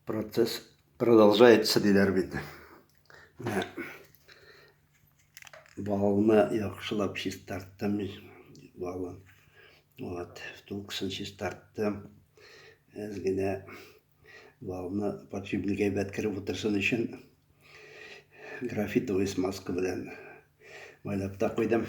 Процесс продолжается диләр бит. Менә балны яхшылап чистарттым. Балын. Вот, втулкасын чистарттым. Әз генә балны подшипник әйбәт кереп утырсын өчен графитовый смазка белән майлап та куйдым.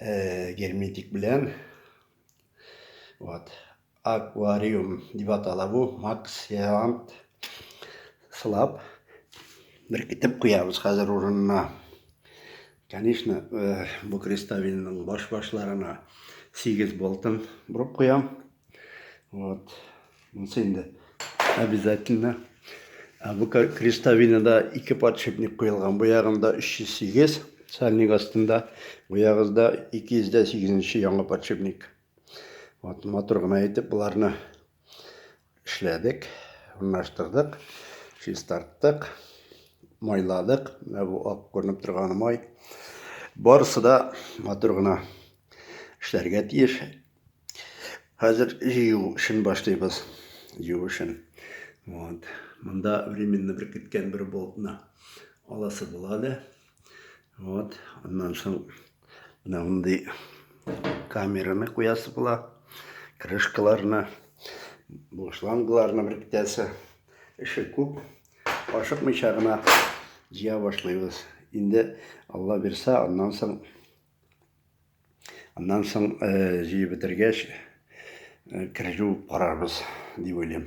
э, герметик белән. Вот. Аквариум дип атала бу, максиант сылап беркетеп куябыз хәзер урынына. Конечно, э, бу крестовинның баш-башларына 8 болтын борып куям. Вот. Монсы инде обязательно. Ә бу крестовинада ике подшипник куелган. Бу ягында 308 сальник астында, бу ягызда 208 яңа подшипник. Вот мотор гына әйтеп боларны эшләдек, урнаштырдык, чистарттык, майладык. Ә бу ак күренеп торган май. Барысы да мотор гына эшләргә тиеш. Хәзер җыю эшен башлыйбыз. Җыю эшен. Вот. Монда временно бер киткән бер болтны аласы була әле. Вот. Аннан соң менә мондый камераны куясы була. Крышкаларны, бу шлангларны бер китәсе. Эше күп. Ашыкмыйча гына җыя башлыйбыз. Инде Алла бирсә, аннан соң Аннан соң җыеп бетергәч, кережу карарбыз дип уйлыйм.